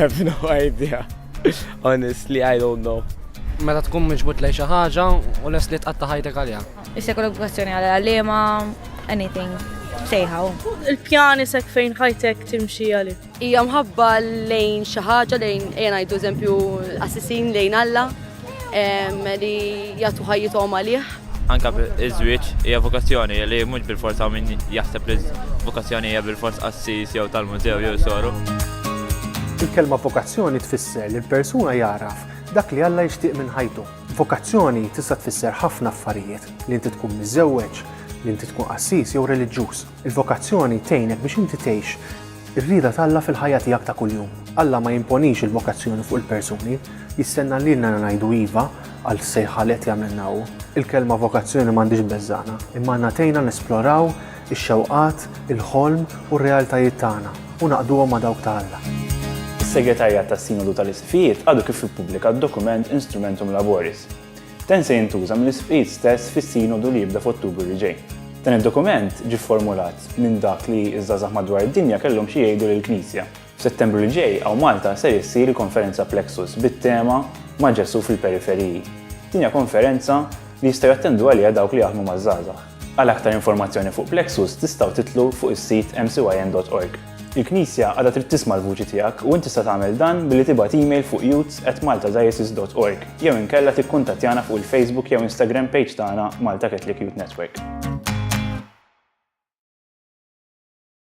have no idea. Honestly, I don't know. Meta tkun miġbut lej xi ħaġa u les li tqatta' ħajtek għaliha. Issa kollok kwestjoni għal għalima, anything, sejħaw. Il-pjan isek fejn ħajtek timxi għalik. Hija mħabba lejn xi ħaġa lejn ejja ngħidu eżempju qassisin lejn Alla li jagħtu ħajjithom għalih. Anka iż-żwieġ hija vokazzjoni li mhux bil-forsa min jaħseb li vokazzjoni hija bil-fors qassis jew tal-mużew jew soru. Il-kelma vokazzjoni tfisser li l-persuna jagħraf dak li Alla jixtieq minn ħajtu. Vokazzjoni tista' tfisser ħafna affarijiet, li inti tkun miżżewweġ, li inti tkun qassis jew reliġjuż. Il-vokazzjoni tgħinek biex inti tgħix ir-rieda t'Alla fil-ħajja tiegħek ta' kuljum. Alla ma jimponix il-vokazzjoni fuq il-persuni, jistenna lilna li ngħidu iva għall-sejħa li qed jagħmlilna hu. Il-kelma vokazzjoni m'għandhiex beżżagħna, imma għandna tgħinna nesploraw ix-xewqat, il-ħolm u r-realtajiet tagħna u naqduhom ma' dawk ta' Alla. Is-Segretarjat tas-Sinodu tal-Isqfijiet għadu kif ippubblika d-dokument Instrumentum Laboris, Dan se jintuża mill-Isqfijiet stess fis-Sinodu li jibda f'Ottubru li ġej. Dan id-dokument ġie fformulat minn dak li ż-żgħażagħ madwar id-dinja kellhom xi jgħidu lill-Knisja. F'Settembru li ġej hawn Malta ser issir il-Konferenza Plexus bit-tema Ma' Ġesù fil-Periferiji. Din hija konferenza li jistgħu jattendu għaliha dawk li jaħdmu maż-żgħażagħ. Għal aktar informazzjoni fuq Plexus tistgħu tidħlu fuq is-sit mcyn.org. Il-Knisja għadha trid tisma' l-vuċi tiegħek u int tista' tagħmel dan billi tibgħat email fuq youths@maltadiocese.org jew inkella tikkuntattjana fuq il-Facebook jew Instagram page tagħna Malta Catholic Youth Network.